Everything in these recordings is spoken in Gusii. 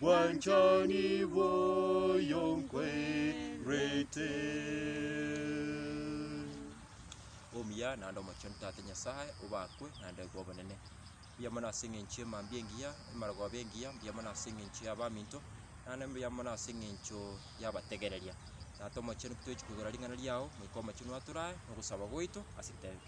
Bwanchani bwoyo nkwerete. Omuya naende omochenu Tata Nyasae, obakwe naende kobonene. Mbuya mono ase eng'encho y'emambia engiya, emerogoba engiya, mbuya mono ase eng'encho y'abaminto, naende mbuya mono ase eng'encho y'abategereria. Tata omochenu, tochi kogora ring'ana riao, Moika Omochenu atoraae, nogosaba gwaito ase ritairia.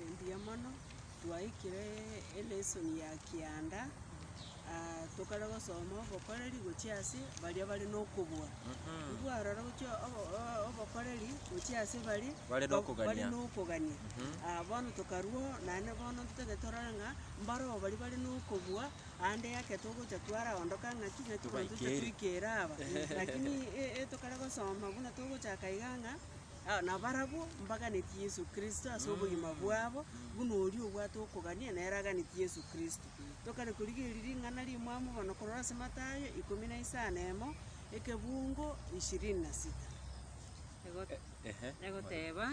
Engiya mono, twaikire elesson ya kianda, tokare gosoma obokoreri gochia ase baria bare nokobua. Nigo aroro gochia obokoreri gochia ase baria Bare nokogania. bare nokogania. Bono tokarwo naende bono ntotagete torore ng'a mbaro aba baria bare nokobua ande eke togocha twaraondoka ng'aki ng'aki bono toche Tobaikeri. toikera aba. Lakini e- e- tokare gosoma buna togochaka iga ng'a. Nabarabwo mbaganetie Yesu Kristo ase obogima bwabo, buna oria obwate okogania nere aganetie Yesu Kristo. Tokare korigereria ring'ana ri'mwamu bono korora ase Mathayo ikomi na isano na emo, ekebungo ishirini na sita. Egoteba,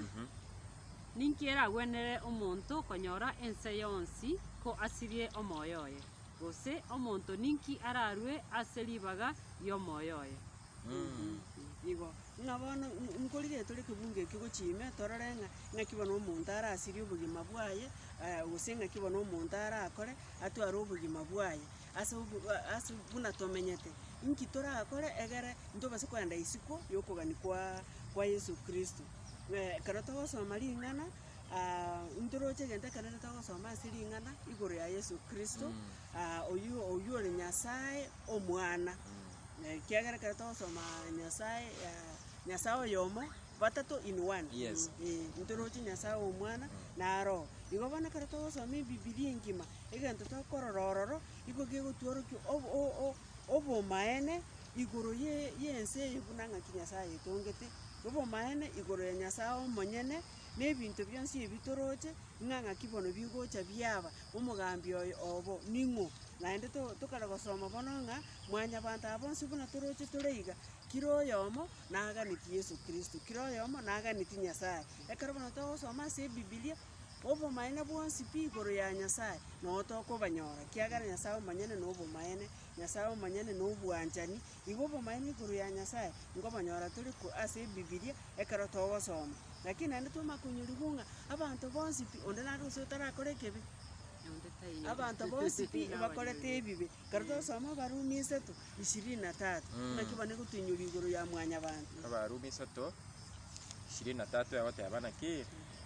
Ninki eragwenerere omonto konyora ense yonsi ko asirie omoyo oye? Gose omonto ninki ararue ase ribaga ri'omoyo oye? Igo, ng'a bono n- nkorire tore ekebungo ekio gochia ime, torore ng'a ng'aki bono omonto arasirie obogima bwaye, eh, gose ng'aki bono omonto arakore atware obogima bwaye ase obo a- ase buna tomenyete. Inki torakore egere ntobase kogenda isiko yokogania kwa kwa Yeso Kristo? Ng'ee ekero togosoma ring'ana ntoroche egento ekenene togosoma ase ring'ana igoro ya Yeso Kristo oyio oyio ore Nyasaye Omwana. Na ekiagera ekero togosoma Nyasae aa, Nyasae oyomo, batato in one. Yes. Ee, ntoroche Nyasae Omwana na Roho. Igo bono ekero togosoma Ebibilia engima, egento tokorora ororo, nigo kegotworokia ob- o- o- obomaene igoro ye- y'ense eye buna ng'aki Nyasae ayetongete, obomaene igoro ya Nyasae omonyene, na ebinto bionsi ebi toroche, ng'a ng'aki bono bigocha biaba. Omogambi oye obo ning'o? Naende tokare gosoma bono ng'a mwanyabanto aba bonsi buna toroche tore iga, kera oyomo naganetie Yeso Kristo, kera oyomo naganetie Nyasae. Ekero bono togosoma ase Ebibilia, obomaene bwonsi pi igoro ya Nyasae nogo tokobanyora, kiagera Nyasae omonyene nobomaene, Nyasae omonyene nobwanchani, Igo obomanyeru igoro ya Nyasae nkobonyora tore korwa ase Ebibilia ekero togosoma. Lakini naende twamanya konyorigwa ng'a abanto bonsi pi, onde nare gose otarakora ekebi? Abanto bonsi pi mbakorete ebibe. Ekero twasoma Abarumi isato, ishirini na tatu, naki bono egotoinyoria igoro ya mwanyabanto. Abarumi isato, ishirini na tatu egoteba naki?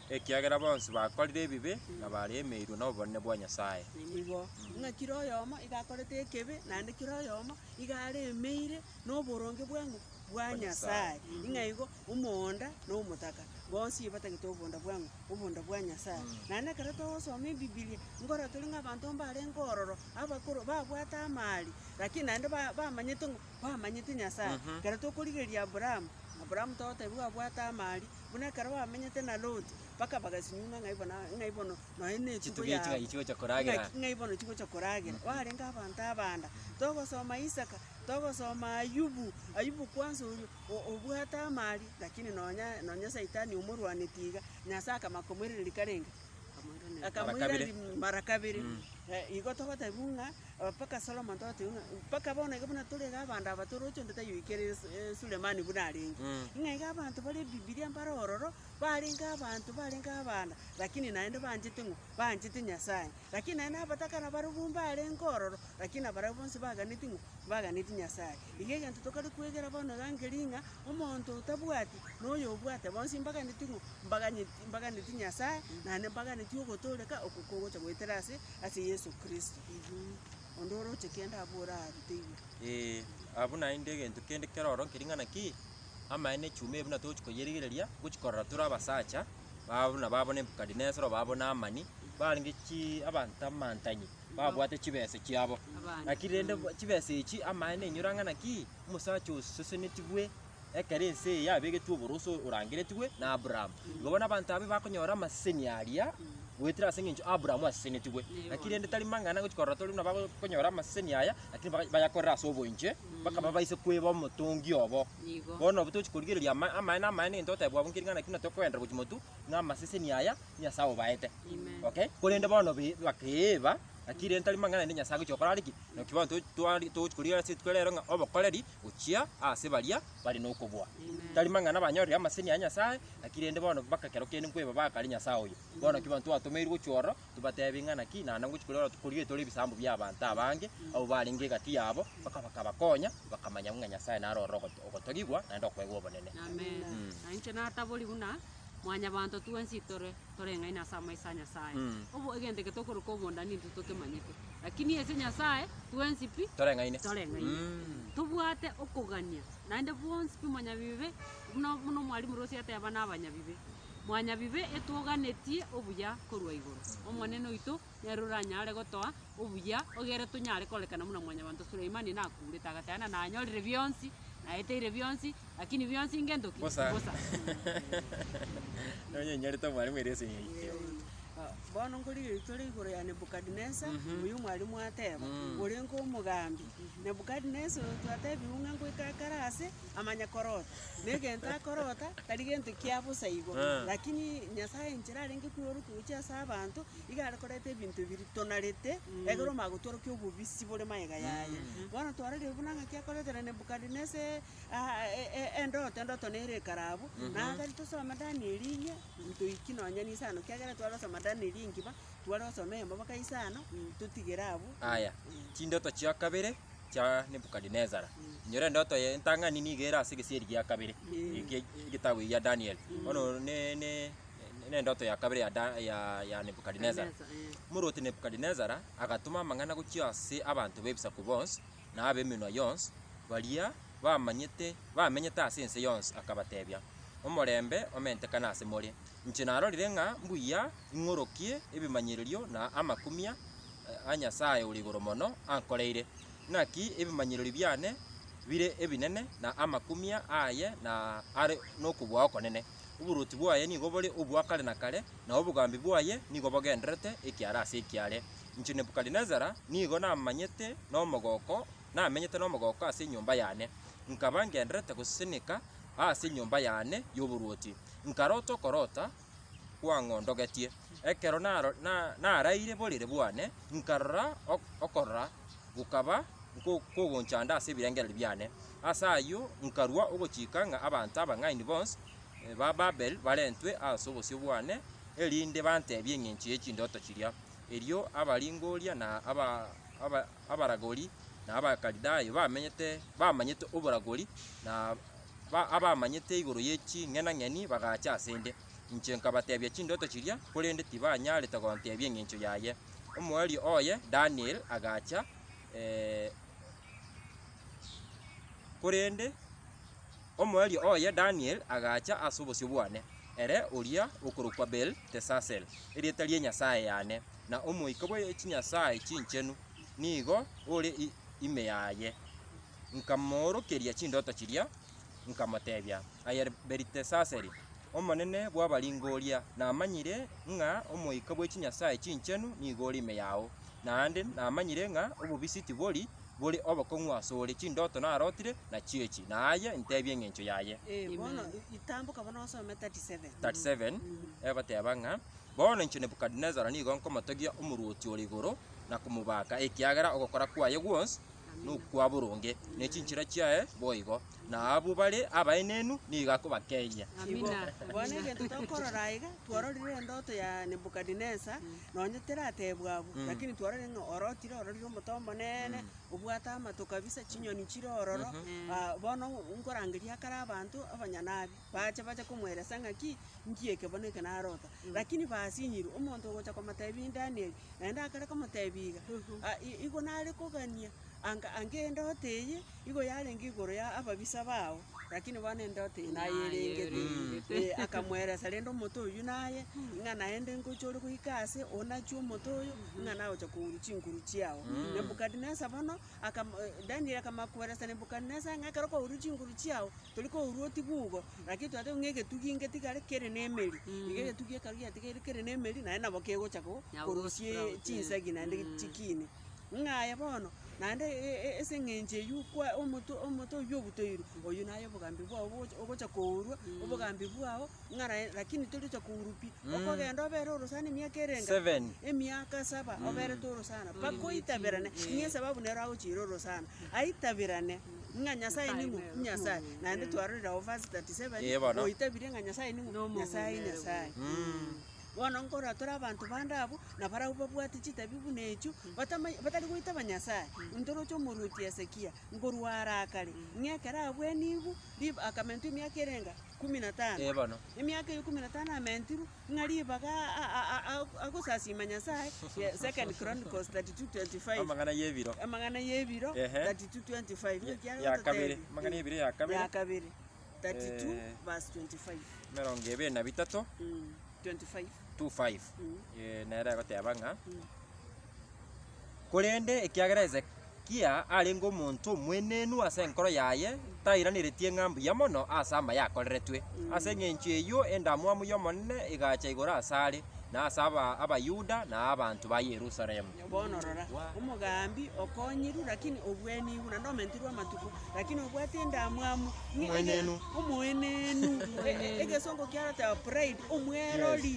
ekiagera bonsi bakorire ebibe na baremeirwe nobonene bwa Nyasae. Nigo ng'a kera oyomo iga akorete ekebe, naende kera oyomo iga aremeire noboronge bwang'u? Bwa Nyasae. Ng'a igo omoonda na omotaka bonsi batagete oboonda bwang'u? Oboonda bwa Nyasae. Naende ekero togosoma Ebibilia, nkorora tore ng'a abanto mbarenge ororo, abakoro, babwate amaari, lakini naende ba- bamanyete ng'o bamanyete Nyasae. Ekero tokorigereria Aburaamu, Aburaamu togotebiwa abwate amaari, Buna ekero bamenyete na Loti, mpaka bagasinyuuma ng'ai bono a- ng'ai bono nonya na etugo Chitugi echi yabo. ng'ai chigocha koragera. Ng'aki- ng'ai bono chigocha koragera. Barenge abanto abanda. Togosoma Isaka, togosoma Ayubu, Ayubu kwanza oria o- obwate amari, lakini nonya nonya saitani omorwanetie iga, Nyasaye akama komoiraneria karenge, akamoiraneria mara kabere. Eh, igo togotebiwa ng'a. Mpaka Solomon togoteba buna, mpaka bono iga buna tore iga abanto aba toroche onde tayoikera ase Sulemani buna arenge. Ng'a iga abanto bare Bibilia mbare ororo, barenge abanto barenge abana, lakini naende banchete ng'o? Banchete Nyasae. Lakini naende abatakana barobwo mbarenge ororo, lakini nabarabwo bonsi baganeti ng'o? Baganeti Nyasae. Iga egento tokare kwegera bono iga nkeria ng'a, omonto otabwati na oyobwate bonsi mbaganeti ng'o? Mbaganyeti. Mbaganetie Nyasaye, naende mbaganetie ogotooreka oko kogocha goetera ase ase Yeso Kristo. Onde oroche kende abore aa arute igoro. Ee, abwo naende egento kende keroro nkering'ana ki? Amaene echuma eye buna togochi koyerigereria, ngochi korora tore abasacha, babo buna babo Nebukadinesaro, babo Naamani, barenge chi abanto amantanyi, babwate chibesa chiabo. Abande. Lakini rende bo- chibesa echi amaene enyora ng'a naki, omosacha osesenetigwe, ekero ense eye yabegetwe oboroso orangeretigwe na Aburaamu. Igo bono abanto abe bakonyora amaseseni aria, goetera ase engencho Aburaamu asesenetigwe. Naki rende tari mang'ana gochia korora tore buna bakonyora amaseseni aya, lakini baka- bayakorere ase oboinche, mpaka babaise kweba omotongi obo. Nigo. Bono nabo tochi korigereria ama- amaene amaene nigento otebwa abwo nkeri ng'a naki buna tokogenderera gochia motu, ng'a amaseseni aya Nyasae obaete. Amen. Okay? Korende bono be- bakeeba, naki rende tari mang'ana rende Nyasae agochia gokora are ki? Naki bono to- twari- tochi korigereria ase rituko ria rero ng'a obokoreri gochia aase baria bare nokoboa. Tari mang'ana banyorire amaseni a Nyasae, naki rende bono bakakero kende nkweba bakare Nyasae oyo. Bono ki banto twatomeirwe gochia ororo, tobateebie ng'a naki naende ngochia koria ororo korire tore ebisaambo bi'abanto abange abwo barenge egati yabo, baka bakabakonya, bakamanya ng'a Nyasae naro ororo ogot ogotogigwa naende okoegwa obonene. Amen. Nainche natabori buna mwanyabanto twensi tore. toreng'aini ase amaiso a Nyasae. Obo, egento eke tokoroka obondani intwe tokemanyete, lakini ase Nyasae twensi pi Toreng'aine. toreng'aine. Mm. Tobwate okogania naende bonsi pi mwanyabibe, buna buna omwalimu Rosie ateba na abanyabibe, mwanyabibe etwoganetie obuya korwa igoro. Omonene oito Nere oranyare gotoa obuya egere tonyare korekana buna mwanyabanto Suleimani nakurete, agateba ng'a nanyorire bionsi, naeteire bionsi, lakini bionsi ingento ki? Mbosa. Mbosa. Nonya inyorete omwalimu ere ase eng'encho eye. Ah, Bono nkorigia eritore igoro ya Nebukadnesa, oyo omwalimu ateba, Orenge omogambi. Nebukadnesa oyo twatebiwu ng'a ngoika akare aase, amanya korota, na egento akorota tari gento kia bosa igo, lakini Nyasae enchera arenge kwerwa gochia ase abanto, Iga are korenta ebinto ebi ritonarete, ekero omanya gotworokia obobisi bore magega yaye. Bono twarorire buna ng'aki akoretera Nebukadinesar e- a- e- e- endoto, endoto nere ekare abwo, na tari tosome Danieli inye, ntoiki nonya ninse ano, kiagera tware gosoma Danieli engima, tware gosoma eyemo mpaka inse ano, totigere abwo. Aya, chindoto chia kabere chia Nebukadinesar. Inyora endoto eye entang'ani nigo ere ase egesieri gia kabere, Ee. ege- egetabu egia Daniel. Bono ne- ne. Nendoto ya kabere ya, Da- ya, ya Nebukadinesara. Nebukadinesara, eh. Omorwoti Nebukadinesara agatoma amang'ana gochia ase abanto b'ebisaku bonsi, na ab'emenwa yonsi, baria bamanyete, bamenyete ase ense yonsi, akabateebia, Omorembe omentekane ase more! Inche narorire ng'a mbuya ing'orokie ebimanyererio na amakumia eh, a Nyasae Ore Igoro Mono ankoreire. Naki ebimanyererio biane bire ebinene, na amakumia aye na are nokobua okonene. Oboruoti bwaye nigo bore obwa kare na kare, na obogambi bwaye nigo bogendererete ekiara ase ekiare. Inche Nebukadinesara nigo namanyete nomogooko, namenyete nomogooko ase enyomba yane, nkaba ngendererete goseseneka aase enyomba yane y'oboruoti, nkarota okorota kwang'ondogetie. Ekero naro- na- naraire borere bwane, nkarora ok- okorora gokaba kogonchanda ase ebirengererio biane. Ase ayio nkarua ogochika ng'a abanto abang'aini bonsi ba Babeli barentwe ase obosio bwane, erinde bantebie engencho ye chindoto chiria. Erio abaringoria, na abaragori, na Abakalidayo bamenyete bamanyete oboragori, na abamanyete igoro ye ching'enang'eni bagacha ase 'nde. Inche nkabateebia chindoto chiria, korende tibanyaarete gonteebia engencho yaye. Omoerio oye Daniel agacha, korende omoerio oye Daniel agacha ase obosio bwane, ere oria okorokwa Beltesasel, erieta rie Nyasae yane, na omoika bwe chinyasae chinchenu nigo ore ime yaye. Nkamoorokeria chindoto chiria, nkamotebia, Aye Belitesasari, omonene bw'abaringo oria, namanyire ng'a omoika bwe chinyasae chinchenu nigo ore ime yao, naende namanyire ng'a obobisi tibori bore obokong'u ase ore, chindoto narotire nachiechi, na aye ntebie engencho yaye. 37 egoteba ng'a Bono inche Nebukadinesari nigo nkomotogia omorwoti ore igoro, na komobaaka, ekiagera ogokora kwaye gwonsi nokwa boronge, ne chinchera chiaye boigo, na abwo bare abaenenu nigo akobakeyia. Amina. Bono egento tokorora aiga, twarorire endoto ya Nebukadinesa, nonye teratebwa abwo, lakini twarorire ng'a orotire, ororire omote omonene, obwate amato kabisa, chinyoni chire ororo, ah, bono nkorangeria akare abanto abanyanabi. Bache bache komoelesa ng'aki nki eke bono eke narota. Lakini basinyirwe, omonto ogocha komotebia Danieli, naende akare komotebia iga, "Ah, i- igo nare kogania, anga anga endoto eye igo yarenge igoro ya ababisa bao, lakini bono endoto eye nayerengete. Eh, akamoelesa rende omote oyio naye, ng'a naende ngocha ore goika ase, onachie omote oyo, ng'a nagocha kourwa chinguru chiao. Nebukadinesar bono Akam, Danieli akamakweresa Nebukadinesari ng'a ekero kwaurwa chinguru chiao, tori kwaurwa oti bugo, lakini twatebia ng'a egetugi inge tigare kere nemeri. Iga egetugi ekero giatigaire kere nemeri, naende nabo kegocha ko- Nabo korosia gosprout, eh. chinsegi naende Mm. chikiini. Ng'a aye bono, naende e- e- ase eng'encho eyio kwa omotwe omotwe oyio obutoirwe, oyio naye obogambi bwao bogocha ogocha kourwa, obogambi bwao ng'a lakini torigocha kourwa pi, okogenda obere orosana emiaka ere engacha? Seven. Emiaka saba oberete orosana, mpaka oitaberane, ng'a esababu nero agochiire orosana, aitaberane ng'a Nyasae ning'o? Nyasae. Naende twarorire agwo verse 37, Ee, bono. oitabirie ng'a Nyasae ning'o? Nomonto. Nyasae Nyasae. Bono nkorora tore abanto bande abwo, na barabwo babwate chitabi buna echio, batamany batari goitaba Nyasae, ntoroche omorwoti Hezekia, nkorwa arakare, ng'a ekero abwenigwe, rib akamentwa emiaka ere engacha? ikumu na tano. Ee bono. Emiaka eye ikumu na tano ameentirwe ng'a ribaga agosasiima Nyasae, 2 Chronicles 32:25. Amang'ana y'ebiro. Amang'ana y'ebiro, 32:25. Ng'o ekiagera Ya kabere, gototebia? amang'ana y'ebiro ya kabere. Ya kabere, 32 verse 25. Emerongo ebere na bitato. Mm, 25. 2:5, eh, nere egoteba ng'a, Korende ekiagera Hezekia arenge omonto omwenenu ase enkoro yaye, tairaneretie ng'a mbuya mono ase amaya akoreretwe. Ase engencho eyio endamwamu y'Omonene egacha igoro asare, na ase aba- Abayuda, na abanto ba Yerusalemu. Bono rora, omogambi okoonyiru, lakini obw'enigu, naende omentirwe amatuko, lakini obwate endamwamu, ng'a Omoenenu. omoenenu, e- e- egesongo kiaroteba pride, omwerori,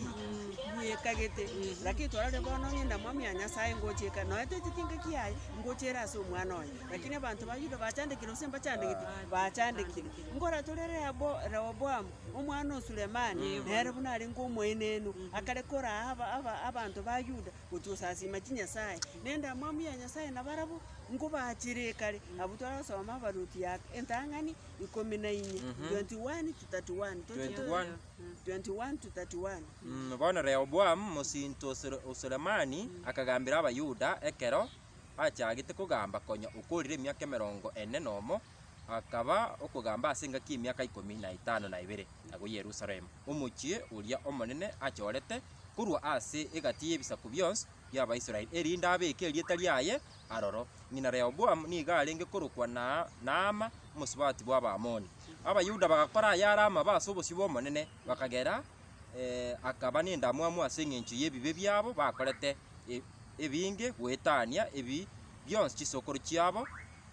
bwekagete, lakini torore bono ng'a endamwamu ya Nyasae ngocha eka, nonya teteti engaki yaye, ngocha ere ase omwana oye, lakini abanto ba Yuda bachandekire gose mbachandegete? Bachandekire. Nkora tore Rehobo- Rehoboamu, omwana o Sulemani, nere buna arenge omoenenu, akareka oraha aba- aba- abanto ba Yuda, gochia osasiima chinyasae, na endamwamu ya Nyasae nabarabwo nkobaachere ekare. Abwo twarasoma abaruoti ya entang'ani ikomi na inye, 21 to 31. Tochie to- 21. 21 to 31. Mm, Bono Rehoboamu, mosinto o Sule- o Sulemani, akagambera Abayuda ekero bachagete kogamba konya okorire emiaka emerongo ene nomo, Akaba okogamba ase engaki y'emiaka ikomi na etano na ebere agwo Yerusalemu, omochie oria omonene achorete korwa ase egati y'ebisaku bionsi bi'Abaisraeli, erinde abeeke erieta riaye aroro. Ng'ina Rehoboamu nigo arenge korokwa Naama, omosubati bw'Abaamoni. Abayuda bagakora ayare amabe ase obosio bw'Omonene, bakagera akaba nendamwamu ase engencho y'ebibe biabo bakorete ebinge goetania ebi bionsi chisokoro chiabo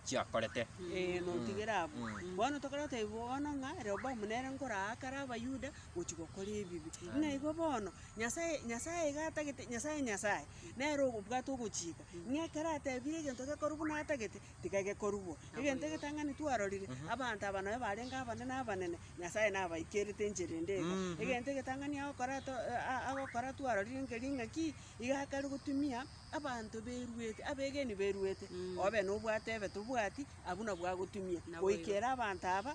chiakorete. Ee, notigere abwo. Bono tokare goteba bono ng'a Rehoboamu nere nkoraa kare Abayuda gochia gokora ebibe. Ng'a igo bono, Nyasae, Nyasae iga atagete, Nyasae Nyasae, nere obwate ogochika, ng'a ekero atebire egento gekorwa buna atagete, tiga gekorwa. Egento egetang'ani twarorire, abanto aba nabo barenge abanene abanene, Nyasae nabaikerete enchera ende iga. Egento egetang'ani agokora to- a- a- agokora twarorire nkeri ng'aki, iga akare gotumia. Abanto beruete, abegeni beruete, obe nobwate ebe tobwati, abwo nabwo agotumia goikera abanto aba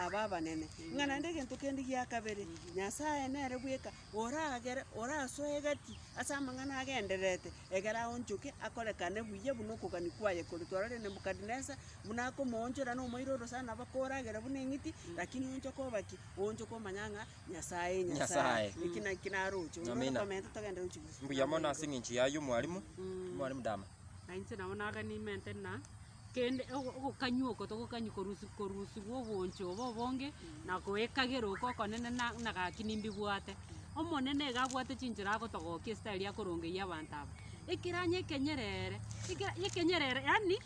aba abanene. Ng'a naende egento kende gia kabere, Nyasae nere bweka oragere, orasoe egati ase amang'ana agendererete, egere aonchoke akorekane buya buna okogania kwaye kore. Twarorire Nebukadinesar buna akomoonchora nomoiroro sana, bakoragera buna eng'iti, lakini oonchoke oba ki? Oonchoke omanye ng'a Nyasae, Nyasae. Eki na eki naro oche. Onde Amina. otomente togende gochi gochi. Mbuya mono ase eng'encho yaye omwarimu, omwarimu Dama. Na inche nabo naganimente na kende ogo- ogokanywa oko togokanyi korusi- korusigwa oboncho obo obonge na goekagera oko okonene na- na gaki nimbibwate. Omonene iga abwate chinchera agotogokia esitari akorongeyia abanto aba. Ekeranyo ekenyerere, ekera- ekenyerere yaani.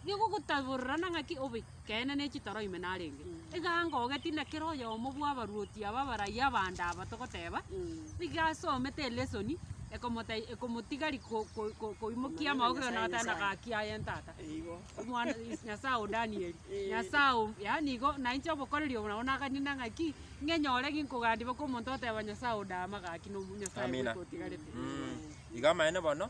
Nigogotaborerana ng'aki obekeene ne chitoro ime narenge. Egango ogeti na kera oyomo bw'abaruoti aba abarai abande aba togoteba, nigo asomete elesoni ekomotei ekomotigari ko- ko- ko- koimokia amaogoio na goteba na gaki aye ntata. Omwana is- Nyasaye o Danieli, Nyasaye o yaani igo na inche obokoreri obo nabo naganina ng'aki, ng'enyore ginkogandiboka omonto oteba Nyasaye o Daama gaki nomonyasaye Amina. bweka otigarete. Iga amaene bono.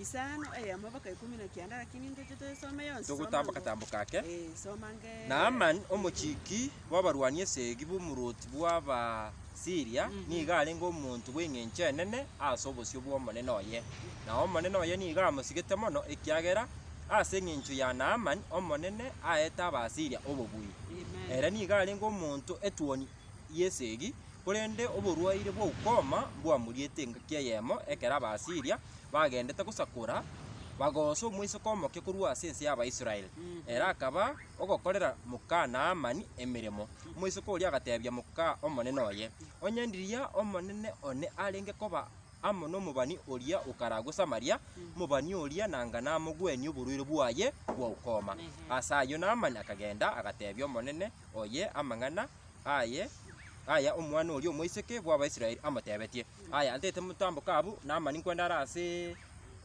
Isano eyemo mpaka ikomi na kianda, lakini ntoche toyesome yonsi. soma Togotamboka-tamboka ake. ang'e- Eh, soma ang'e. Naamani, omochiki bw'abarwani esegi b'omorwoti bw'Abasiria, nigo arenge omonto bw'engencho enene ase obosio bw'omonene oye, na omonene oye nigo amosigete mono, ekiagera ase engencho ya Naamani Omonene aete Abasiria obobui. Amen. Ere nigo arenge omonto etuoni y'esegi, Korende oborwaire bwa ukoma mbwamuriete engaki eyemo ekero Abaasiria bagendete gosakora, bagoosa omoiseke omoke korwa ase ense y'Abaisraeli. Ere akaba ogokorera moka Naamani emeremo. Omoiseke oria agateebia moka omonene oye, Onye ndiria omonene one arenge koba amo nomobani oria okaragwe Samaria, omobani oria nanga namogwenie oborwaire bwaye bwa ukoma. Ase ayio Naamani akagenda, agateebia omonene oye amang'ana aye, aya omwana oria omoiseke bw'Abaisraeli amotebetie, Aya antete motambo kabu Naamani kwenda are ase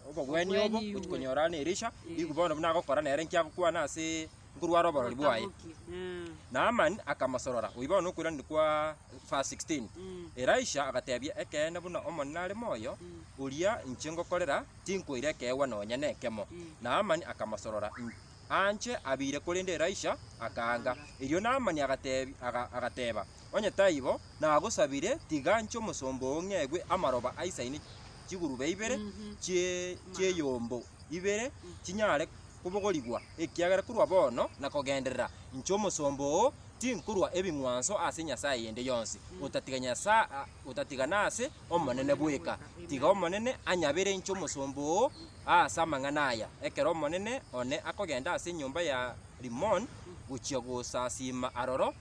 obogwenia obo Obogwenia gochia obwe. konyorana na Elisha, riku bono buna agokora nere nkiagokwana ase nkorware oborori bwaye. Otabokie. Eh. Naamani akamosorora. Oyio bono nokoiraneria kwa verse 16. Mm. Elisha agateebia, Ekeene buna Omonene are moyo, oria inche ngokorera, tinkoira ekeegwa nonya nekemo. Naamani akamosorora, In- Anche abeire korende Elisha akaanga. Erio Naamani agateba, Onye taibo, nagosabire, tiga nche omosomba oo ng'egwe amaroba aisaine chigurube ibere chi'eyombo ibere chinyare kobogorigwa, ekiagera korwa bono na kogenderera inche omosomba oo tinkorua ebing'wanso ase nyasae eyende yonsi, otatiga nase Omonene bweka. Tiga Omonene anyabere inche omosomba oo Aase amang'ana aya, ekero Omonene one akogenda ase enyomba ya Rimoni gochia gosasiima aroro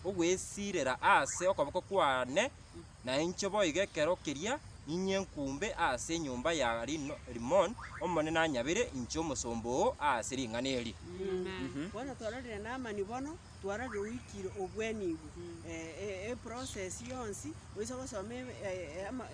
ogwesiirera aase okoboko kwane, nainche boigo ekero keria ninyie nkumbe aase enyomba ya Rimoni, Omonene anyabere inche omosomba oo aase ring'ana eri. Twarage oikire obweenigu eprocess yonsi, oise gosoma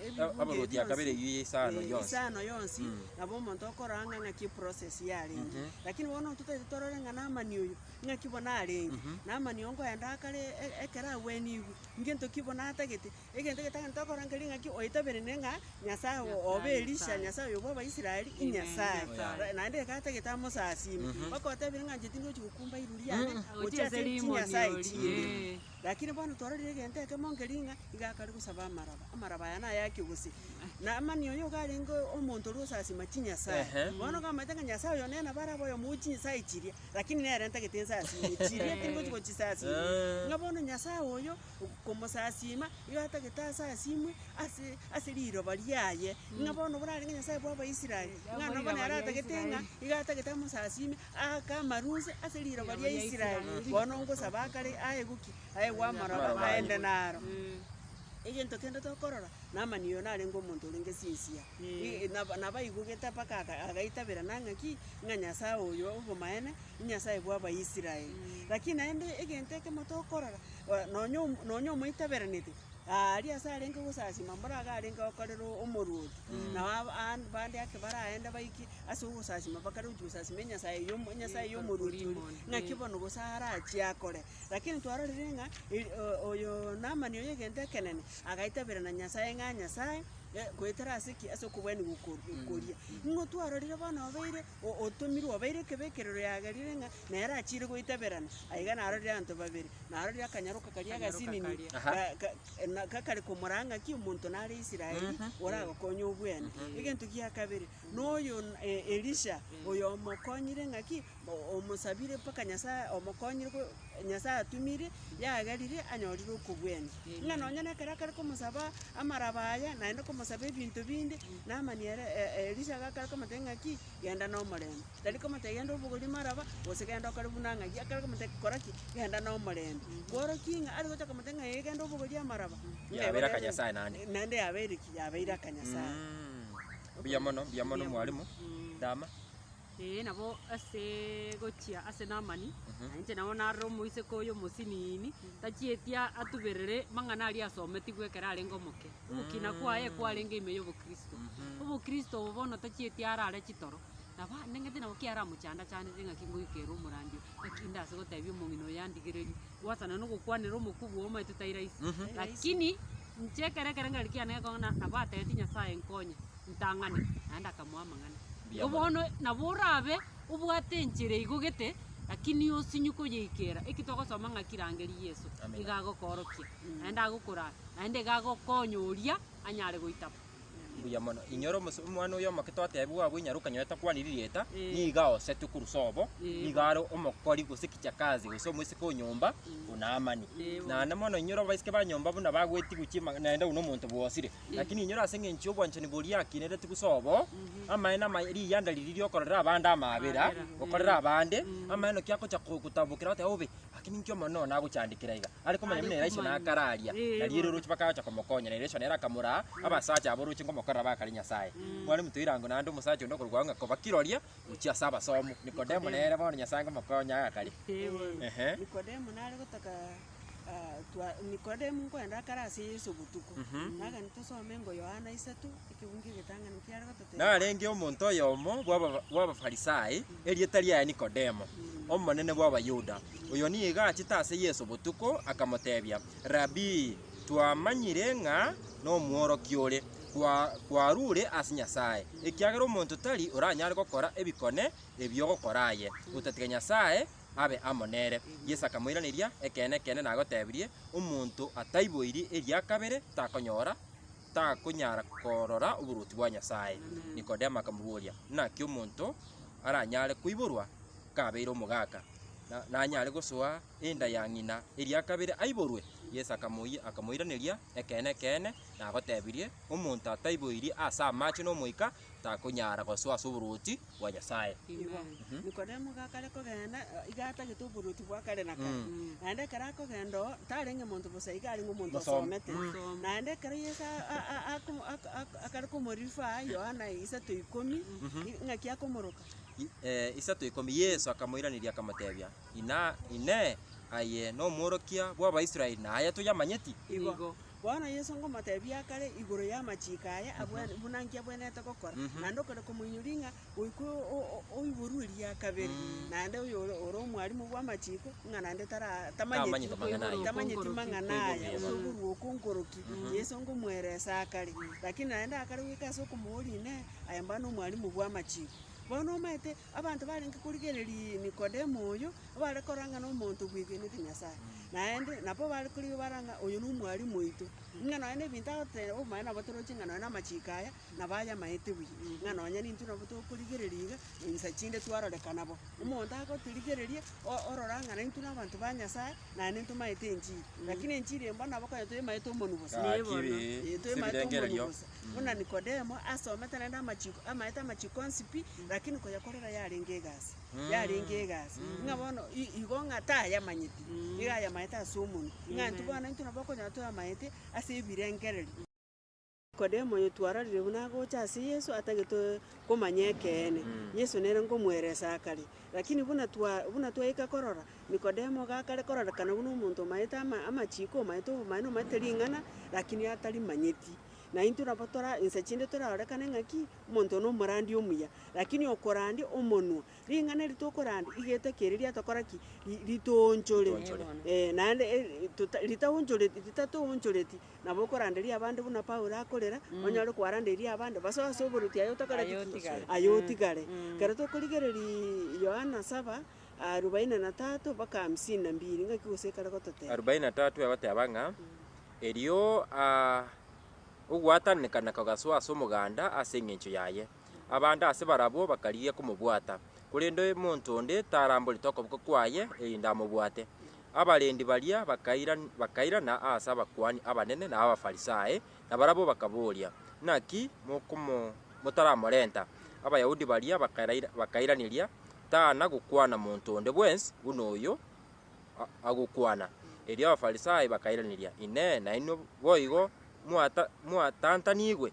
ebibuge bionsi, isano yonsi, nabo omonto okorora ng'a ng'aki eprocess yarenge. Lakini bono totaete torore ng'a Naamani oyo, ng'aki bono arenge, Naamani oyo nkoyenda akare ekero agweniigwe, ngento ki bono atagete, Egento getang'ani tokorangeria ing'aki oetaberenie ng'a Nyasae obe Elisha, Nyasae oyo bw'Abaisraeli, inyasae. Naende iga atagete amosasiime. Mpaka otebirie ng'a inche tindi gochia gokumba iru riane gochia ase chinyasae chinde. Lakini bono tororire egento ekemo nkeria ng'a iga akare gosaba amaraba, amaraba aya naye ake gose. Na mani oyo iga arenge omonto oria osasiima chinyasae. Bono iga amaete ng'a Nyasae oyo nere nabo arabe oyomo o chinyasae chiria, lakini nere ntagete nsasiime chiria, tindi gochia gochisasiima. Ng'a bono Nyasae oyo. komosasiima, igo atagete ase asiimwe ase ase riroba riaye, ng'a bono borarenge ng'a Nyasae bw'Abaisraeli, ng'a nabo Abaisraeli. naratagete ng'a igo atagete amosasiime, aake amaruse ase riroba ria Israel. Bono ngosaba akare aye goki? Aegwe amaroba Amaroba aye. aende naro. Egento kende tokorora, Naamani oyo narenge omonto orenge sinsiya. I- nabo nabaigugete mpaka aka agaitabera na ng'a ki, ng'a Nyasae oyo obomaene, Nyasae bw'Abaisraeli. Lakini naende egento ekemo tokorora, Nonya nonya omoiteberaneti aaria ase arenge gosasima mboro iga arenge gokorera omoruoti, na aba aa- bande ake baraende baike ase ogosasima bakare gochia gosasima enyasae y'omo enyasae y'omoruoti oria, ng'aki bono gose arachie akore. Lakini twarorire ng'a eri o- oyo Naamani oyo egento ekenene, agaiteberana Nyasae ng'a Nyasae, goetera ase ki? Ase okobwania gokoru gokoria. Ng'o twarorire bono obeire Otomirwe obeire ekebekerero yagerire ng'a nere achiire goitaberana, na iga narorire abanto babere, narorire akanyaroka karia agasinini gakare komora ng'aki omonto nare Israeli oragokonye obwene. Egento gia kabere, noyo Elisha, oyomokonyire ng'aki, omosabire mpaka Nyasae omokonyire. Nyasae atumire, yagerire, anyorire okogwenia. Ng'a nonya nekero akare komosaba amaraba aya, naende komosaba ebinto binde, Namani ere e- Elisha iga akare komotebia ng'aki, genda nomorembe. Tari komotebia genda obogorie maraba, gose genda okore buna ng'aki, akare komotebia kora ki, genda nomorembe. Kworokia ng'a ari gocha komotebia ng'a ee genda obogorie amaraba, ng'a Yabeire aya aka nere- Nyasae naende. naende yabeire ki, yabeire aka Nyasae. Mm. Mbuya mono, mbuya mono mwalimu, ndama. Ee, nabo ase gochia ase Naamani, na inche nao narore omoiseke oyo omosinini, tachieti a- atuberere mang'ana aria asometigwe ekero arenge omoke. Ogokina kwaye kwarenge ime y'obokristo. Obokristo obo bono tachieti arare chitoro, nabo ande ng'ete nabo ki aramochandachanete ng'aki ngoika ere omorandia, ng'aki inde ase gotebia omong'ina oyo yandigereria, gwasana nogokwanera omokubwa oo omanyete tai rahisi. Lakini inche ekero ekero ngare kiane gekong'a na- nabo atebeti Nyasaye nkonye. ntang'ane, naende akamoa amang'ana. Mbuya Igo mono. bono nabo orabe obwate enchera igo gete, lakini osinyu koyeikera. Eki twagosoma ng'aki rangeria Yeso, Amina. iga agokoorokia, naende agokoraa, naende iga agokonya oria anyare goitaba. Mbuya mono. Inyora omos- omwana oyo omoke twatebiwa abwo inyare okanyora takwana ririeta, Eh. niga osetwe korwa sobo, Eh, niga are omokori gose kichakazi gose omosike o nyomba o Naamani. Eh, bono. Naende mono inyora abaiseke ba nyomba buna bagwetigwa chimang'ana naende buna omonto bwosire, Lakini inyora ase engencho y'obwanchani boria akinereti bosoo obo, amaene amaye, riyanda riria riokorera abande amaabera, gokorera abande, amaene naki agocha ko- kotambokera goteba bobe, lakini inki omonene one nagochandekera iga? Are komanya buna Elisha nakararia, na riire oroche mpaka agacha komokonya, na Elisha nere akamoraa abasacha aba oroche ngomokorera bakare Nyasae. Kware motoira ango naende omosacha onde okorokwa Yonga koba kiroria gochia ase abasomu. Nikodemo nere bono Nyasae ngomokonya agakare. Ehe. Ah, twa Nikodemu nkoenda akare ase Yeso botuko, nagani tosome engo Yohana isato, ekebungo egetang'ani kiare gototebia. Narenge omonto oyomo bw'aba- bw'Abafarisai, erieta riaye Nikodemo, omonene bw'Abayuda. Oyo nigo achete ase Yeso botuko, akamotebia, Rabii, twamanyire ng'a nomworokia ore, kwa- kwarure ase Nyasae, ekiagera omonto tari oranyare gokora ebikone ebi ogokora aye, otatiga Nyasae abe amo nere. Yeso akamoiraneria, Ekeene, ekeene, nagotebirie, Omonto ataiboiri eria kabere takonyora, takonyara korora oboruoti bwa Nyasae. Nikodemo akamoboria, Naki omonto aranyare koiborwa kabeire omogaka, na- nanyare gosoa enda ya ng'ina eria kabere aiborwe? Yeso akamoyi- akamoiraneria, Ekeene, ekeene, nagotebirie, Omonto ataiboiri ase amache n'Omoika takonyara gosoa ase oboruoti bwa Nyasae. Amen. Nikodemo gakare kogenda, eh, iga atagete oboruoti bwa kare na kare. Naende ekero akogenda oo, tarenge monto bosa iga arenge omonto Mosome. osomete. Naende ekero Yeso a- a- a- ako- ako- ako- akare komorifa Yohana isato ikomi, i- ng'aki akomoroka. I- eh, isato ikomi Yeso akamoiraneria akamotebia, Ina, Inee, aye nomworokia bw'Abaisraeli na aya toyamanyeti? Igo. Bono Yeso ngomoteebia akare igoro y'amachiiko aya abwene, buna inki abwenerete gokora, naende okare komoinyoria ng'a goika oiborwe eria kabere, naende oyore ore omwarimu bw'amachiiko, ng'a naende tara- tamanyeti tamanyeti mang'ana aya, gose oborua okonkoroki. Yeso ngomoeresa akare, lakini naende akare goika ase okomooria Inee, aye mbano omwarimu bw'amachiiko? Bono omaete Abanto barenge korigereria Nikodemo oyo, bare korora ng'a nomonto obwegenete Nyasae, naende nabwo bare korigereria bare ng'a oyo nomwarimu oito, ng'a nonya nebinto agoteba nabwo omanye nabo toroche ng'a nonya namachiko aya nabo ayamaete buya, ng'a nonya nintwe nabo tokorigereria iga, na insa chinde twarorekana bo. Omonto agotirigereria o- orora ng'a naintwe nabanto ba Nyasae, naende ntomaete enchiri. Lakini enchiri eye mbona nabo konya toyemaete omonu bosa. Gaki Ee, toyemaete omonu sebirengererio bosa. buna Nikodemo, asomete naende amachiiko, amaete amachiiko onsi pi, lakini koyakorera yarenge egasi, yarenge egasi. Ng'a bono i- igo ng'a tayamanyeti, nigo ayamaete ase omonwa, ng'a intwe bono intwe nabo okonyora toyamaete ase ebirengererio. Nikodemo oyo twarorire buna agocha ase Yeso atagete komanya ekeene, Yeso nere ngomoeresa akare. Lakini buna twa- buna twaika korora. Nikodemo gakare kororekana buna omonto omaete ama, amachiiko, omaete obomanene, omaete ring'ana, lakini atarimanyeti. Na intwe nabo tora, ensa chinde torarorekane ng'a ki? Omonto one omorandi omuya. Lakini okorandi omonwa, ring'ana eri tokorandi, iga eteke eri riatokora ki? Ri- ritoonchore. Ritoonchore. Eh, naende e- tota ritaonchoreti, ritatoonchoreti, nabo okoranderia abande buna Paulo akorera, onyare kwarandeirie abande, basoe ase oboruoti aye otakoreti Aye ki? otigare. Aye otigare. Ekero tokorigereria Yohana saba, Arubaini na natato mpaka hamsini na mbiri, ng'aki gose ekare gototeba? Arubaini na natato egoteba ng'a, Erio ogwatananekana kogasoa ase omoganda ase engencho yaye. Abande ase barabwo bakarigia komobwata, korende omonto onde taramborete okoboko kwaye erinde amobwate. Abarendi baria bakairana ase abakuani abanene na Abafarisai, na barabwo bakaboria, Naki motaramorenta? Abayahudi baria bakairaneria, tana gokwana monto onde bwensi buna oyo agokwana. Erio Abafarisai bakairaneria, Inee! Nainwe boigo mwatantanigwe?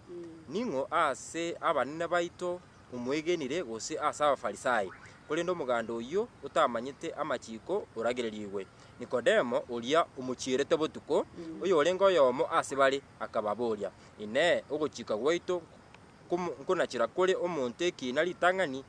Ning'o ase abanene baito momwegenire gose ase Abafarisai? Korende omoganda oyio otamanyete amachiko oragererigwe. Nikodemo, oria omochierete botuko, oyorenge oyomo ase bare, akababoria, Inee! Ogochika gwaito nkonachera kore omonto ekiina ritang'ani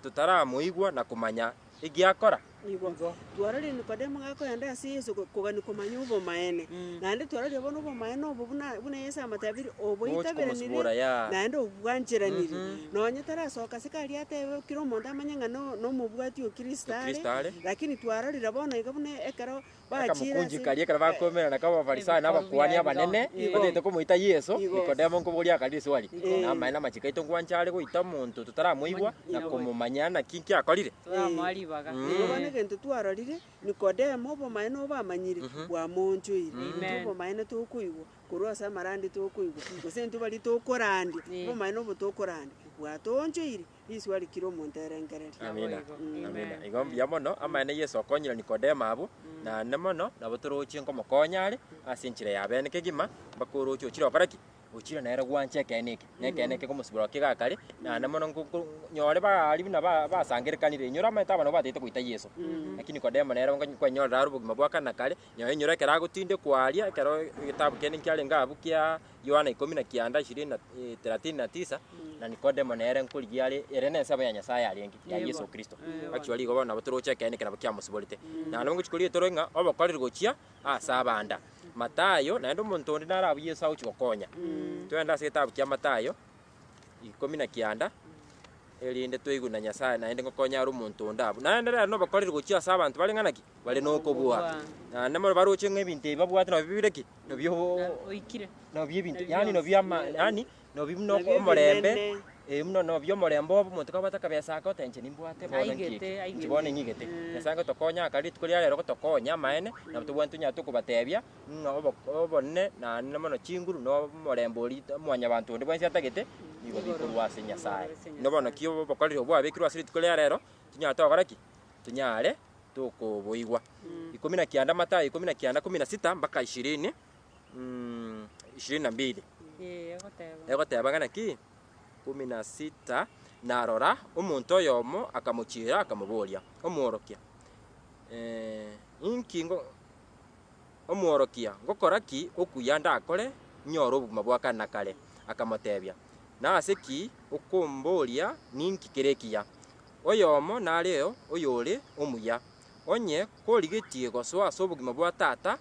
totaramoigwa na komanya egiakora? Igo twarorire Nikodemo gakoenda ase Yeso kogania komanya obomaene. Naende twarorire bono obomaene obo buna Yeso amatabirie, oboitaberanirie, naende obobwancheranirie. Nonya tarasoka ase karia atebe kera omonto amanye ng'a nomobwati o Kristo are, lakini twarorire bono iga buna ekero. Akamokunchika aria ekero bakoimera, na kaba Abafarisai na abakuani abanene batagete komoita Yeso, Nikodemo nkoboria akarire eswali, Namaene amachiko aito ngwancha are goita omonto totaramoigwa na komomanya naki nkiakorire? Toramoa ribaga. Erio bono egento twarorire, Nikodemo, obomaene obo amanyire, bwamoonchoire. Intwe obomaene tokoigwa korwa ase amarandi tokoigwa, gose intwe baria tokorandia, obomaene obo tokorandia bwatoonchoire. Riiswa rikire omonto erengereria. Amina. Amina. Igo mbuya mono. Amaene Yeso okonyire Nikodemo abwo, naende mono nabo torochie nkomokonya are ase enchera ya bene kegima, mpaka oroche ochire gokora ki? Ochire nere gwancha ekeene eke, na ekeene eke komosibora oo kiga kare, naende mono nko- nko- nyore ba aria buna ba- basangerekanire inyora omanyete aba nabo bataete goita Yeso. Lakini Nikodemo nere onko- kwanyorire are obogima bwa kare na kare, nyaye inyora ekero agotindekwa aria, ekero egetabu kende nkiarenge abwo kia. Yohana ikomi na kianda ishirini na eh, thelathini na tisa na Nikodemo nere nkorigia are ere nensemo ya Nyasaye arenge ya Yesu Kristo achiwa rigo bono nabo toroche ekeene eke nabo kiamosiborete na nabo ngochia koria etoro ng'a obokoreri gochia ase abanda Matayo naende omonto onde nare abwo Yesu agochia gokonya twende ase egetabu kia Matayo ikomi na kianda, erinde toigwe na Nyasae naende ng'o konya are omonto onde abwo. Naende rero nobakoreri gochia ase abanto bare ng'a naki, bare nokobua. Naende more baroche ng'a ebinto ebi babwate nabio bire ki? Nabio oikire. nabio ebinto yaani nabio ama yaani nabio buna Nabio omorembe, ebinene. eh, buna nabio omorembe obo omonto kabwate akabesa ake oteeba inche nimbwate bono nki Aigete, eke, aigete. inche bono ning'igete. Nyasae ngotokonya aka rituko ria rero gotokonya amaene, nabo tobwate tonyare tokobateebia. ng'a obonene naende mono chinguru na omorembe oria rita- mwanyabanto onde bwensi atagete, nigo bikorwa ase Nyasae. Buna bono naki obokoreri obwo bwabekirwe ase rituko ria reero, tinyara togokora ki? Tinyare tokoboigwa. Ikomi na kianda, Mathayo ikomi na kianda kumi na sita mpaka ishirini ishirini na mbili. Ee, egoteba. Egoteba ng'a naki? kumi na sita, Na rora, omonto oyomo akamochiera, akamoboria, Omworokia, inki ngo. Omworokia, ngokora ki okuya ndakore nyore obogima bwa kare na kare? Akamotebia, Nase ki okomboria ninki kere ekiya? Oyomo nareo oyore omuya. Onye korigetie gosoa ase obogima bwa tata,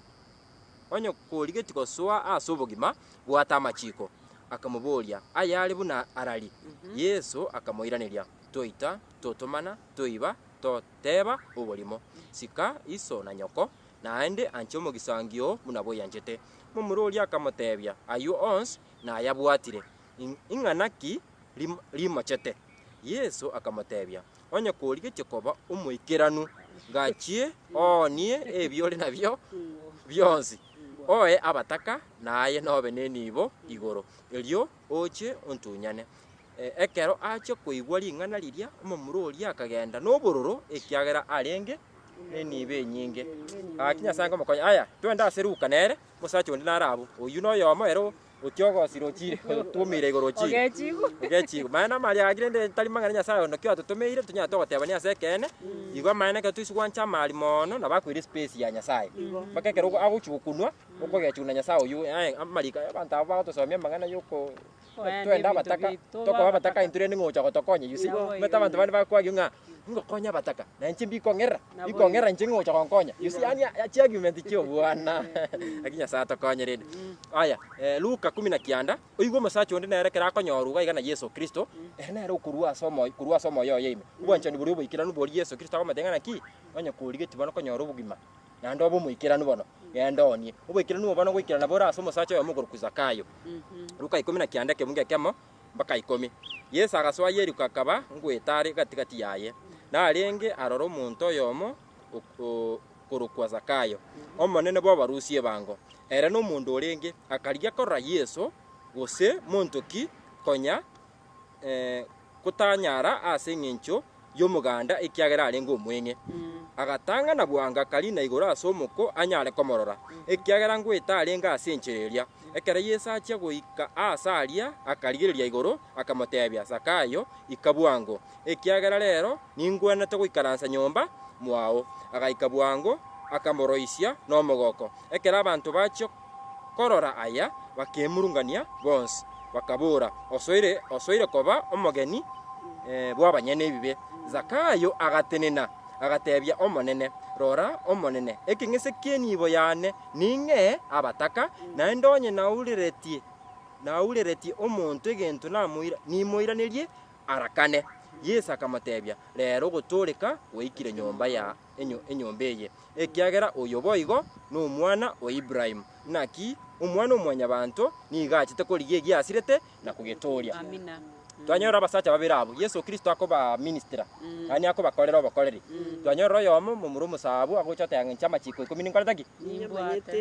onye korigetie gosoa ase obogima, bwata amachiko. Akamoboria, Ayare buna arari? Yeso akamoiraneria, Toita, totomana, toiba, toteba oborimo, Sika iso na nyoko, naende anche omogisangio oo buna bwaianchete. Momura oria akamoteebia, Ayio onsi nayabwatire, ing'ana ki rimochete? Yeso akamoteebia, Onye korigetie koba omoikeranu, gachie oonie ebi ore nabio bionsi, oe abataka, na aye nobe nenibo igoro, erio Oche ontunyane. Ekero achia koigwa ring'ana riria, omomura oria akagenda nobororo, ekiagera arenge nenibo enyinge. Gaki Nyasae nkomokonya, Aya, twende ase Luka nere, omosacha onde nare abwo. Oyio noyomo ere ogochia ogosira ochire, otuomeire igoro ochire, ogechigwa. Maya namaria gaki rende tari mang'ana Nyasae onde naki atotomeire, tonyare togotebania ase ekeene, igwa amaene ekero toisi gwancha amaari moono, nabo akoira espesi ya Nyasae. Mpaka ekero agochia gokunwa, Okogechuna Nyasae oyio, aye amariko aya abanto aba bagotosomia amang'ana y'okoenda twende abataka, tokoba abataka intwe rende ng'ogocha gotokonya, you see. Omanyete abanto bande bakwagio ng'a ngokonya abataka, na inche mbikong'erera, mbikong'erera inche ng'ogocha gonkonya, you see, yaani chiargument chi'obwana, lakini Nyasae atokonye rende. Aya, Luka kumi na kianda, oigwe omosacha onde nere ekero akonyorwa iga iga na Yeso Kristo, ere nere okorua ase omoyo, korwa ase omoyo oye ime, obwanchani boria oboikeranu boria Yeso Kristo agomotebi ng'a naki, onye korigetie bono konyora obogima, naende obe omoikeranu bono, genda oonie. Oboikeranu obo bono goikerana bore ase omosacha oyomo okorokwa Zakayo. Luka ikomi na kianda ekeungu ekemo mpaka ikomi. Yeso agasoa Yeriko akaba ngoeta are gati-gati yaye. Narenge aroro omonto oyomo ok- o- korokwa Zakayo, omonene bw'abarusia ebango. Ere na omonto orenge akarigia korora Yeso, gose monto ki, konya gotanyara ase engencho y'omoganda ekiagera arenge omweng'e. Agatang'ana bwango Karina igoro ase omoko anyare komorora, ekiagera ngoeta arenge ase enchera eria. Ekero Yeso achia goika aase aria akarigereria igoro, akamotebia, Zakayo, ika bwango, ekiagera rero ningwenerete goikaransa nyomba mwao. Agaika bwango, akamoroisia nomogoko. Ekero abanto bachia. Korora aya, bakemurungania bonsi, bakabora, Osoire, osoire koba omogeni bw'abanyene ebibe. Zakayo agatenena, agatebia Omonene, Rora, Omonene, ekeng'ese ki'enibo yane ning'ee abataka, naende onye naureretie, naureretie omonto egento nimoiranerie arakane. Yeso akamotebia, Reero ogotooreka gwaikire nyomba ya. enyomba eye, ekiagera oyo boigo nomwana o Ibrahimu. Naki Omwana-o-mwanyabanto nigo achete korigia egiasirete na kogetooria. Twanyorire abasacha babere abwo, Yeso Kristo akobaministera, yaani akobakorera obokoreri. Twanyorire oyomo momura omosaabwo agocha goteba ng'a inche amachiko ikomi ninkorete ki?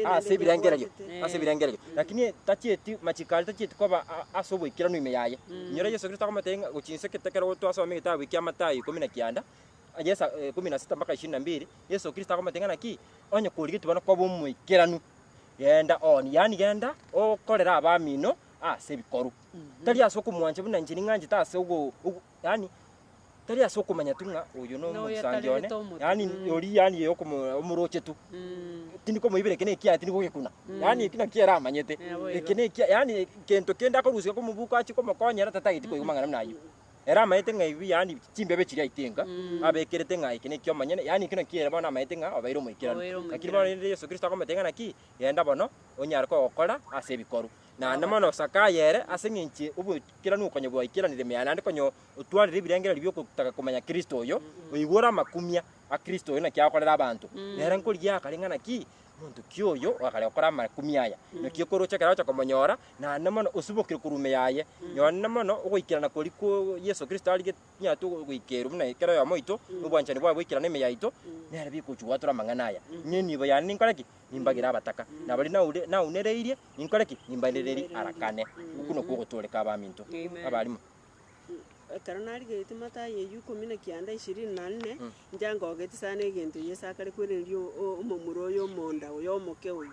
Ase ebirengererio, ase ebirengererio. Lakini tachieti, amachiko aria tachieti koba ase oboikeranu ime yaye. Inyora Yeso Kristo akomotebia ng'a gochia inse ekero twasoma egetabu eki'Amatayo ikomi na kianda, 16-22, Yeso Kristo akomoteebia ng'a ki? Onye korigetie bono koba omoikeranu, genda ooni, yaani genda okorere abamino aase ebikoru. Tari ase okomwancha buna inche ning'anchete ase ogo ogo yaani tari ase okomanya tu ng'a oyo na Noyo omosangi one, atarerete omotugi. yaani oria yaani ye okomo omoroche tu. Tindi komoibera eke na ekiaye tindi kogekuna, yaani eki nakio ere amanyete. Naboigo. Eke na ekiaye yaani gento kende akorusia komobuko ache komokonyera tatageti koigwa amang'ana buna ayio. Ere amanyete ng'a ebibe yaani chimbebe chiria aitenga, abekerete ng'a eke neki'omonyene, yaani ekio nakio ere bono amanyete ng'a obeire omoikeranu. Obeire omoikeranu. Lakini bono rende Yeso Kristo akomotebia ng'a ki, genda bono, onyare kogokora ase ebikoru. Naende mono Zakayo ere ase eng'enche oboikeranu okonya bwaikeranire mea naende konya otwarire ebirengererio bi'ogotaka komanya Kristo oyo, oigure amakumia a Kristo oyo naki agokorera abanto. Nere nkorigia akareng'ana ki, Omonto ki oyo ogakare gokora amakumia aya? Naki okoroche ekero ogocha komonyora, naende mono osibokire korwa ime yaye. Nyora nende mono ogoikerana koria kwa Yeso Kristo arigete tonyare goikerwa buna ekero oyomo oito, na obwanchani bwaye boikerane ime yaito, nere bikochia goatora amang'ana aya. Inee nibo yane ninkore ki? Nimbagere abataka, na baria naure naunereirie ninkore ki? Nimbaendererie arakane. Okwo nokwo ogotooreka abaminto. Abarimo. Ekero narigetie matayo eyio ikomi na kianda ishirini na nne, inche ngoogete sana egento eyio ase akare kwereneria o- o- omomura oyo omonda oyo omoke oyo.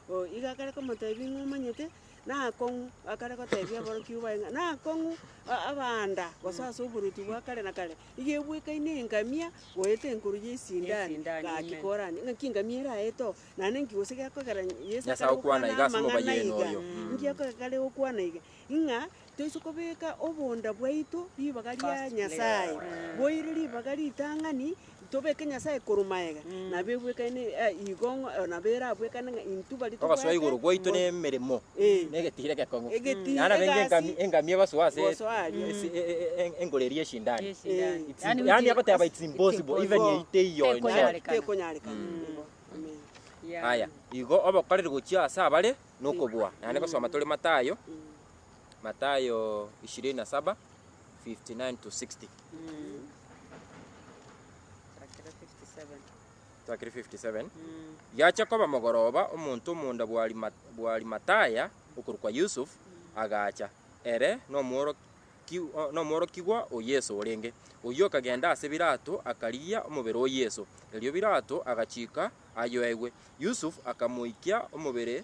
Oo, igo akare komotebia ng'a omanyete, nakong'u, akare gotebia aborokigwa baye ng'a nakong'u a- abanda gose ase oboruoti bwa kare na kare, iga ebwekaine engamia goeta enkoro ya esindani, Esindani, gaki amen. koranie ng'aki engamia eraete oo, naende nki gose gekogera Yeso Nyasae akare okwana gokwana iga ase amang'ana mobaye eno iga, oyo. nki ekogera gare gokwana iga, ng'a. Toise kobeka obonda bwaito ribaga ria Nyasae, boire ribaga ritang'ani, tobeke Nyasae korwa magega, nabo ebwekane igo ng'a nabo erabwekane ng'a intwe baria Ogosoa tobwate igoro gwaito na emeremo, Eh. na egetire gekong'u. Egetire, Yaani nabenge egasi. engami, engami egosoa ase Gosoa aria. ase e- e- e- e- engoro eria esindani. Yes, Eh. yeah. It's Yaani im- yaani uti- agoteba it's impossible, it's even impossible. eite iyo in short. Tekonyarekana. Tekonyarekana. Mm. Igo. Amen. Yeah. Aya, igo obokoreri gochia ase abare nokobua, naende gosoma tore Mathayo, Mathayo 27, 59 to 60. Mm. Chakere 57. Twakire 57. Mm. Yacha koba mogoroba omonto omonda bw'Arima- bw'Arimataya okorokwa Yusuf agacha, ere nomworoki- o- nomworokigwa o Yeso orenge. Oyio okagenda ase Pilato akarigia omobere o Yeso. Erio Pilato agachika ayoegwe. Yusuf akamoikia omobere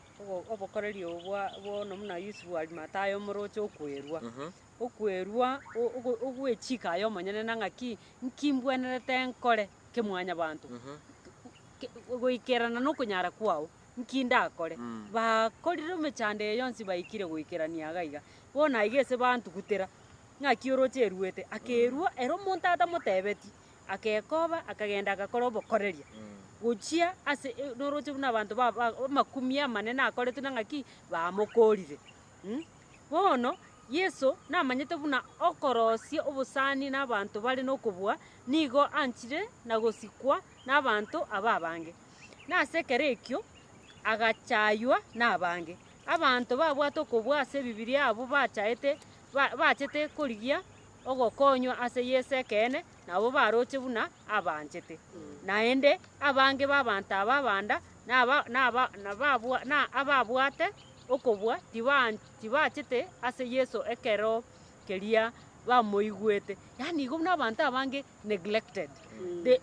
Obokoreri obo bono buna Yusufu Arimathaya omoroche okwerua, okwerua ogwechika aye omonyene na ng'aki nki mbwenerete nkore kemwanyabanto goikerana nokonyara kwao nki ndakore. Bakorire emechando eye yonsi baikire goikerania iga iga bono aiga ase bantugutera ng'aki oroche eruete akerua ere omonto atamotebeti Agekoba, akagenda agakora obokoreria, gochia ase noroche buna abanto ba- ba amakumia amanene akoretwe na ng'aki, bamokorire. Mh, bono Yeso namanyete buna okorosia obosani na abanto bare na okobua, nigo anchire na gosikwa na abanto aba abange. Na ase ekero ekio, agachaywa na abange. Abanto babwate okobua ase ebibiria abwo bachaete ba- bachete korigia ogokonywa ase Yeso ekeene nabwo baroche buna abanchete. Naende abange b'abanto aba abanda na ababwate okobua tibachete ase Yeso ekero keria bamoigwete. Yaani igo buna abanto abange neglected.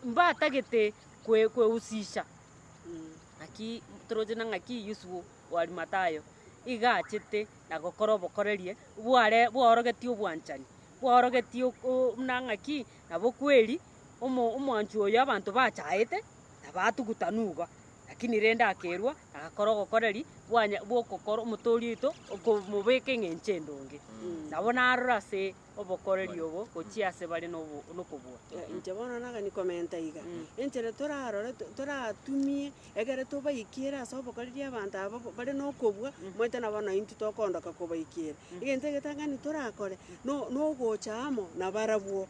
Mbatagete kwehusisha. Naki toroche ng'a ki Yusufu o Arimatayo iga achete. na gokora obokorerie bware bwaorogetie obwanchani, bwaorogetie ok- o- buna ng'aki na bokweri, omo- omwanchwa oyo abanto bachaete na batuguta nugo, lakini rende akerua na agakora ogokoreri bwanya bw'okokora omotoori oito okomobeka eng'encho endonge. Nabo narora ase. obokoreria obo gochia ase bare nokobua. Inche bono nagani komenta iga, enchera torarore toratumie egere tobaikere ase obokoreria abanto aba bare nokobua, omanyete nabo na intwe tokondoka kobaikera. Egento egetang'ani torakore no nogocha amo nabarabwo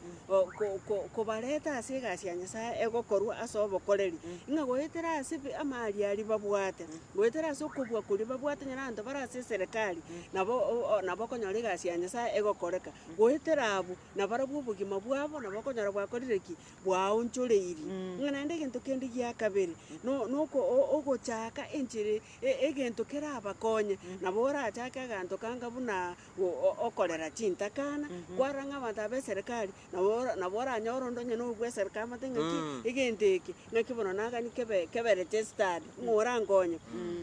kobareta ase egasi ya Nyasaye egokorwa ase obokoreri, ng'a goetera ase amariari babwate. Goetera ase okobua koria babwate nyore abanto bare ase eserekari, nabo nabo okonyora egasi ya Nyasae egokoreka. Goetera abwo, nabarabwo obogima bwabo nabo okonyora bwakorire ki? Bwaonchoreirie. Ng'a naende egento kende gia kabere, no- noko o- ogochaka enchera e- egento kerabakonye, nabo orachake aganto kanga buna o- o- okorera chintakana, kwarora ng'a abanto aba b'eserekari Nabo nabo oranyore onde onye nogwesera kamate ng'aki, egento eke, ng'aki bono nagani kebe kebe registered, ng'a orankonye,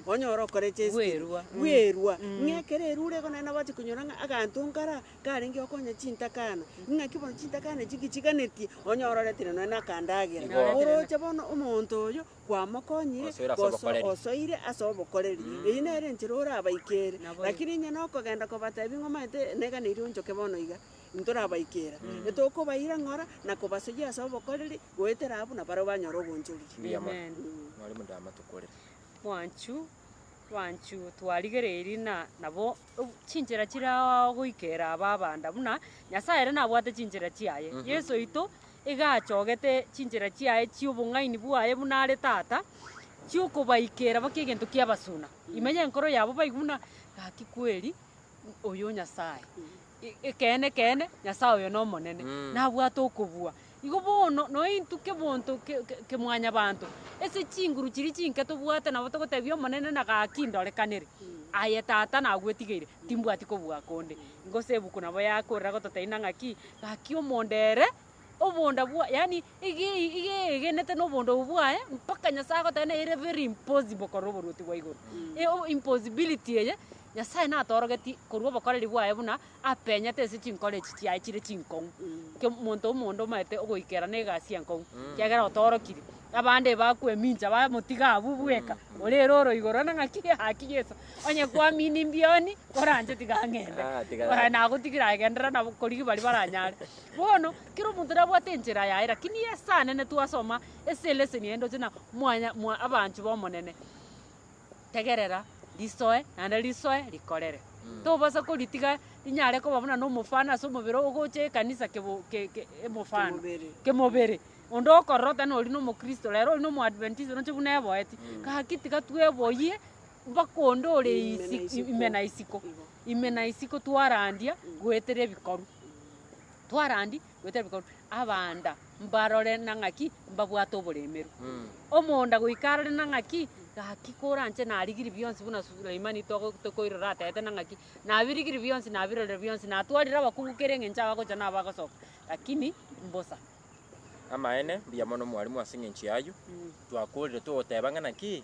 onye ore okoregesti. Bwerwa. Bwerwa, ng'a ekero erwa ore igo naende nabagochi konyora ng'a aganto nkare aa, karenge gokonya chintakana, ng'aki bono chintakana echi ngichiganetie, onye ororeti nonye na akandagera. Igo. Oroche bono omonto oyo, kwamokonyire, Osoire ase goso obokoreri. osoire ase obokoreri. Eyio nere enchera orabaikere. Nabo- Lakini onye nokogenda kobatebi ng'a omanyete, neganeirie onchoke bono iga, Intorabaikera, netokobaira ng'ora na kobasoyia ase obokoreri, goetera abwo na barabwo banyore ogonchoriri. Mbuya mono, Amen. nore mode amatokorere. Mwanchu, mwanchu twarigereiri na nabo ob- chinchera chire ao goikera aba abanda buna Nyasaye ere nabwate chinchera chiaye. Yeso oito iga achogete chinchera chiaye chi'obong'aini bwaye buna are Tata, chiokobaikera baki egento ki'abasuna. Ime y'enkoro yabo baigwe buna, Gaki kweri, oyo Nyasaye. Ekeene, ekeene, Nyasae oyo n'Omonene, nabwate okobua. Igo bono nointwe kebonto kia Mwanyabaanto, ase chinguru chiria chinke tobwate nabo togotebia Omonene na gaki ndorekanere. Aye Tata nagwetigeire, timbwati kobua konde. Gose ebuku nabo yakorera gototeina ng'aki, gaki omonda ere obonda bwaye, yaani Igegenete nobondobu bwaye, mpaka Nyasae agoteba na ere very impossible korora oboruoti bwa igoro. Eo impossibility eye, Nyasae natorogetie korwa obokoreri bwaye buna apenyete ase chinkoro echi chiaye chire chinkong'u. Ke monto omonto omanyete ogoikera na egasi enkong'u, kiagera otorokirie. Abande bakwemincha bamotiga abwo bweka, ore ere oro igoro ore ng'aki gaki Yeso, onye kwamina imbioni, oranche tiga ng'ende. Nagotigire aye genderera nabo korigia baria baranyare. Bono, Kera omonto nabwate enchera yaye, lakini ye esane ne twasoma ase eleseni yaye ndoche na mwanya mwa abanchu b'Omonene. Tegerera risoe naende risoe rikorere. Tobasa koritiga rinyare koba buna nomofano ase omobere ogocha ekanisa kebo ke ke emofano Kemobere. kemobere. Onde okororota nori na omokristo rero ori na omoadventista roche buna eboeti. Gaki tiga tweboyie mpaka onde ore Ime na isi- isiko. ime na isiko. Igo. Ime na isiko twarandia goetera ebikorwa. Twarandi goetera bikorwa abanda mbarore na ng'aki mbabwate oboremeru. Omonda goika arore na ng'aki gaki koranche narigiri bionsi buna Suleimani togo- tokoirora atete na ng'aki nabirigiri bionsi nabirorire bionsi natwarire abakungu kera eng'encho abagocha na abagosoka lakini mbosa. Amaene, mbuya mono mwarimu ase eng'encho y'ayio. Twakorire togoteba ng'a naki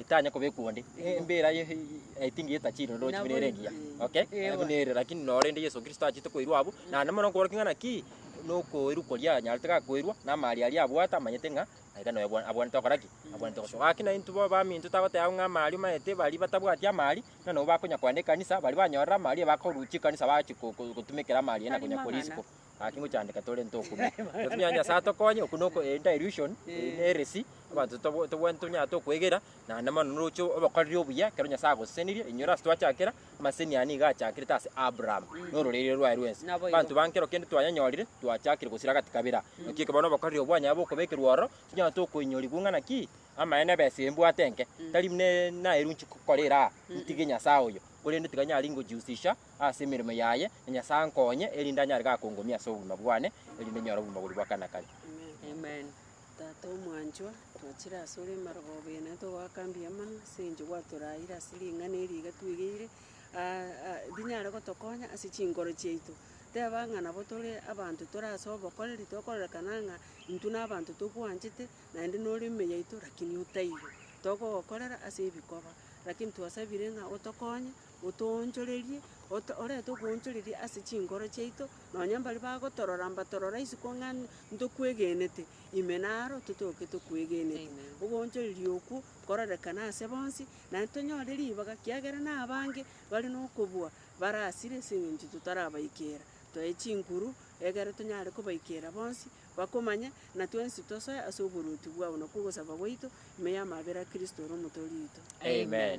etanya koba ekwo onde embera ye I think ye tachiri ndo chimina ere engiya okay Ewa. buna ere lakini nore ende Yesu Kristo achete koirwa abu na ande mono nkobora king'ana ki nokoirwa koria anyarete gakoirwa na amari aria abwate amanyete ng'a aiga noyo abwa- abwanete gokora ki abwanete gosoa gaki na intwe bobe baminto tagoteba abwo ng'a amari omanyete baria batabwati amari ng'a nabo bakonya koenda ekanisa baria banyorire amari bakorusia ekanisa bachia ko- ko- gotumekera amari aya na konya koria isiko Gaki ngochandeka torente okume. Totunyare Nyasae atokonye, okwo noko eh, dilution, eh, heresi, abanto tobo- tobwani tonyate okwegera, naende mono noroche obokoreri obuya, ekero Nyasae agosesenirie, inyora ase twachakera, amaseseni aya nigo achakerete ase Abraham, na ororeria rwaye rwensi. Naboigo. Abanto ba nkero kende twanyanyorire, twachakire gosira gati kabira. Naki ekero bono obokoreri obwo bwanyare bokobekerwa ororo, tinyarete okoinyorigwa ng'a naki, amaene besa eye mbwate enke, tari buna naeruchi kokora eraa, ntige Nyasae oyo, korende tiga nyare ingojihusisha ase emeremo yaye, na Nyasae ankonye, erinde anyare gakongomia ase obogima bwane, erinde nyore obogima boria bwa kare na kare. Amen. Tata omwanchwa, twachire asore emarogooba eye naye togoaka mbuya mono ase eng'encho gwatoraeire ase ring'ana eri iga twegeire rinyare gotokonya ase chinkoro chiaito. Teba ng'a nabo tore abanto tore ase obokoreri tokororekana ng'a intwe na abanto tokwanchete naende nore ime yaito lakini otaiyo. Togogokorera ase ebikoba, lakini twasabire ng'a otokonye. Otoonchorerie, ot, orete okoonchoreria ase chinkoro chiaito, nonya mbaria bagotorora mbatorora isiko ng'a ntokwegenete, ime naro totoke tokwegenete. Amen. Ogoonchoreria okwo nkororekane ase bonsi, naende tonyore ribaga, kiagera na abange bare na okobua barasire ase eng'encho totarabaikera. Toe chinguru, egere tonyare kobaikera bonsi bakomanye, na twensi tosoe ase oboruoti bwabo na kw'ogosaba gwaito, ime y'amabera a Kristo ore Omotoori oito. Amen.